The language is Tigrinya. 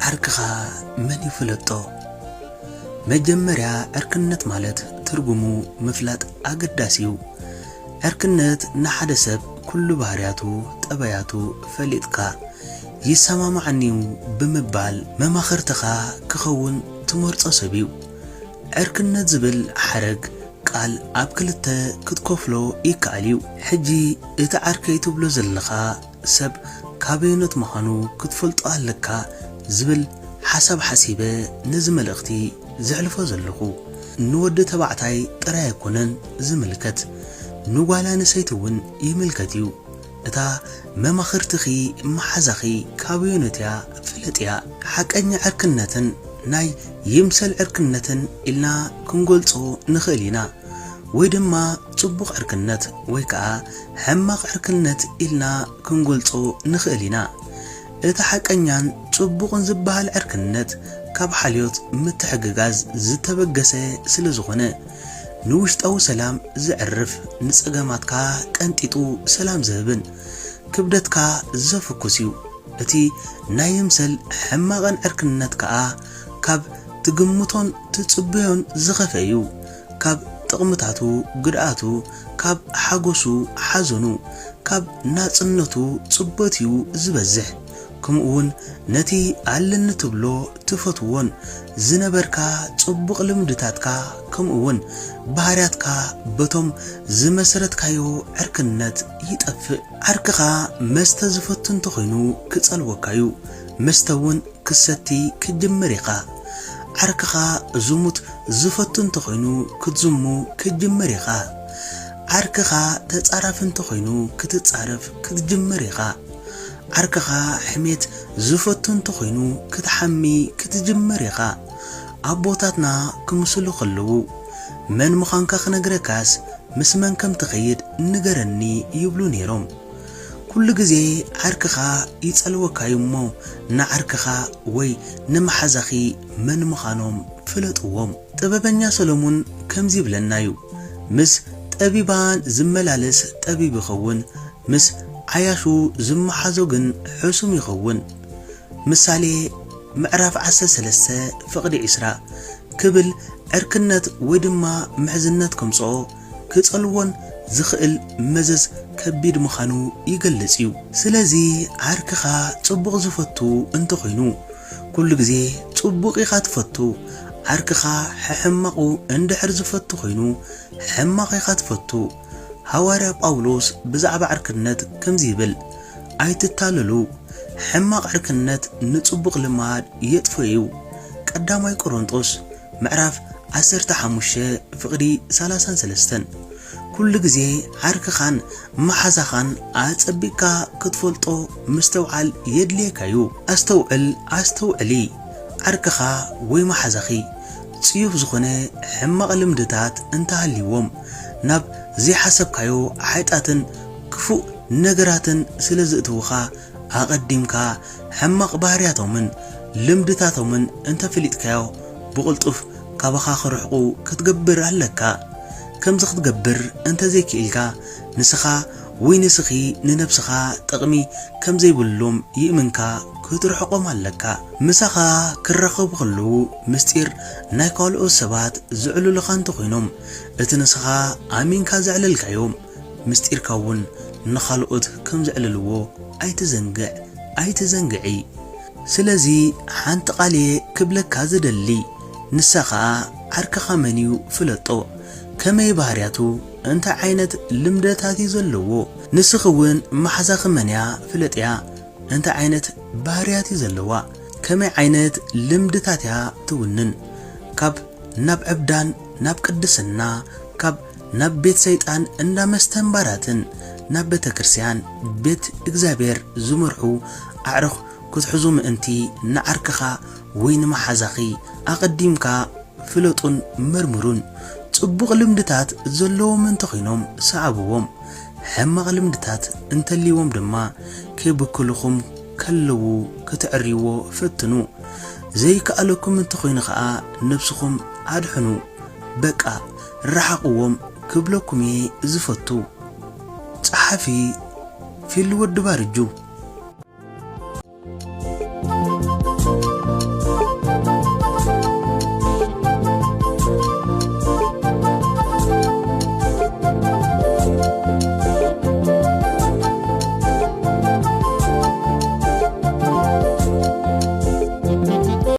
ዓርክኻ መን ይፍለጦ? መጀመርያ ዕርክነት ማለት ትርጉሙ ምፍላጥ ኣገዳሲ እዩ። ዕርክነት ንሓደ ሰብ ኩሉ ባህርያቱ፣ ጠባያቱ ፈሊጥካ ይሰማማዓኒ'ዩ ብምባል መማኽርትኻ ክኸውን ትመርጾ ሰብ እዩ። ዕርክነት ዝብል ሓረግ ቃል ኣብ ክልተ ክትከፍሎ ይከኣል እዩ። ሕጂ እቲ ዓርከይ ትብሎ ዘለኻ፣ ሰብ ካበየኖት ምዃኑ ክትፈልጦ ኣለካ ዝብል ሓሳብ ሓሲበ ነዚ መልእኽቲ ዘሕልፎ ዘለኹ። ንወዲ ተባዕታይ ጥራይ ኣይኮነን ዝምልከት ንጓል ኣንሰይቲ እውን ይምልከት እዩ። እታ መማኽርትኺ መሓዛኺ ካበየኖት እያ ፍለጥያ። ሓቀኛ ዕርክነትን ናይ ይምሰል ዕርክነትን ኢልና ክንገልጾ ንኽእል ኢና ወይ ድማ። ጽቡቕ ዕርክነት ወይ ከኣ ሕማቕ ዕርክነት ኢልና ክንገልጾ ንኽእል ኢና። እቲ ሓቀኛን ጽቡቕን ዝበሃል ዕርክነት ካብ ሓልዮት፣ ምትሕግጋዝ፣ ዝተበገሰ ስለ ዝኾነ፣ ንውሽጣዊ ሰላም ዘዕርፍ፣ ንጸገማትካ ቀንጢጡ ሰላም ዝህብን ክብደትካ ዘፍኩስ እዩ። እቲ ናይ ይምሰል ሕማቕን ዕርክነት ከኣ ካብ ትግምቶን ትጽበዮን ዝኸፍኤ እዩ። ካብ ጥቕምታቱ ግድኣቱ፣ ካብ ሓጎሱ ሓዘኑ፣ ካብ ናጽነቱ ጽበቱ'ዩ ዝበዝሕ። ከምኡ'ውን ነቲ ኣለኒ ትብሎ ትፈትዎን ዝነበርካ ጽቡቕ ልምድታትካ ከምኡ'ውን ባህርያትካ በቶም ዝመሰረትካዮ ዕርክነት ይጠፍእ። ዓርክኻ መስተ ዝፈቱ እንተኾይኑ ክጸልወካ'ዩ፣ መስተ'ውን ክትሰቲ ክትጅምር ኢኻ። ዓርክኻ ዝሙት ዝፈቱ እንተኾይኑ ክትዝሙ ክትጅምር ኢኻ። ዓርክኻ ተጻራፊ እንተኾይኑ ክትጻረፍ ክትጅምር ኢኻ። ዓርክኻ ሕሜት ዝፈቱ እንተኾይኑ ክትሓሚ ክትጅምር ኢኻ። ኣቦታትና ክምስሉ ከለዉ መን ምዃንካ ክነግረካስ ምስ መን ከም ትኸይድ ንገረኒ ይብሉ ነይሮም። ኩሉ ግዜ ዓርክኻ ይጸልወካ'ዩ እሞ ንዓርክኻ ወይ ንመሓዛኺ መን ምኻኖም ፍለጥዎም። ጥበበኛ ሰሎሙን ከምዚ ይብለና'ዩ ምስ ጠቢባን ዝመላለስ ጠቢብ ይኸውን ምስ ዓያሹ ዝመሓዞ ግን ሕሱም ይኸውን። ምሳሌ ምዕራፍ ዓሰርተ ሰለስተ ፍቕዲ ዕስራ ክብል ዕርክነት ወይ ድማ ምሕዝነት ከምጽኦ፣ ክጸልዎን ዝኽእል መዘዝ ከቢድ ምኻኑ ይገልጽ እዩ። ስለዚ ዓርክኻ ጽቡቕ ዝፈቱ እንተኾይኑ ኩሉ ግዜ ጽቡቕ ኢኻ ትፈቱ፣ ዓርክኻ ሕሕማቑ እንድሕር ዝፈቱ ኮይኑ ሕማቕ ኢኻ ትፈቱ። ሃዋርያ ጳውሎስ ብዛዕባ ዕርክነት ከምዚ ይብል ኣይትታለሉ ሕማቕ ዕርክነት ንጽቡቕ ልማድ የጥፍኦ እዩ፣ ቀዳማይ ቆሮንጦስ ምዕራፍ ዓሰርተ ሓሙሽተ ፍቕዲ ሰላሳን ሰለስተን ኩሉ ግዜ ዓርክኻን መሓዛኻን ኣጸቢቕካ ክትፈልጦ ምስትውዓል የድልየካ እዩ። ኣስተውዕል ኣስተውዕሊ፣ ዓርክኻ ወይ መሓዛኺ ጽዩፍ ዝኾነ ሕማቕ ልምድታት እንተ ሃልይዎም፣ ናብ ዘይሓሰብካዮ ሓጢኣትን ክፉእ ነገራትን ስለ ዝእትዉኻ፣ ኣቐዲምካ ሕማቕ ባህርያቶምን ልምድታቶምን እንተ ፈሊጥካዮ ብቕልጡፍ ካባኻ ክርሕቑ ክትገብር ኣለካ። ከምዚ ክትገብር እንተ ዘይክኢልካ ንስኻ ወይ ንስኺ ንነብስኻ ጥቕሚ ከም ዘይብሎም ይእምንካ ክትርሕቖም ኣለካ። ምሳኻ ክራኸቡ ከለዉ ምስጢር ናይ ካልኦት ሰባት ዘዕሉልኻ እንተ ኾይኖም እቲ ንስኻ ኣሚንካ ዘዕለልካዮ ምስጢርካ'ውን ንኻልኦት ከም ዘዕልልዎ ኣይትዘንግዕ፣ ኣይትዘንግዒ። ስለዚ ሓንቲ ቃል'የ ክብለካ ዝደሊ፣ ንሳ ኸኣ ዓርክኻ መን'ዩ ፍለጦ፣ ከመይ ባህርያቱ፣ እንታይ ዓይነት ልምደታት'ዩ ዘለዎ፣ ንስኺ'ውን መሓዛኺ መን'ያ ፍለጥያ፣ እንታይ ዓይነት ባህርያት'ዩ ዘለዋ፣ ከመይ ዓይነት ልምድታት'ያ ትውንን፣ ካብ ናብ ዕብዳን ናብ ቅድስና፣ ካብ ናብ ቤት ሰይጣን እንዳ መስተን ባራትን ናብ ቤተ ክርስቲያን ቤት እግዚኣብሔር ዝመርሑ ኣዕሩኽ ክትሕዙ ምእንቲ ንዓርክኻ ወይ ንመሓዛኺ ኣቐዲምካ ፍለጡን መርምሩን። ጽቡቕ ልምድታት ዘለዎም እንተኾይኖም ሰዓብዎም፣ ሕማቕ ልምድታት እንተልይዎም ድማ ከይብክሉኹም ከለዉ ክትዕርይዎ ፈትኑ። ዘይከኣለኩም እንተኾይኑ ከኣ ነብስኹም ኣድሕኑ። በቃ! ርሓቕዎም ክብለኩም እየ ዝፈቱ። ጸሓፊ፣ ፊሊ ወዲ ባርጁ።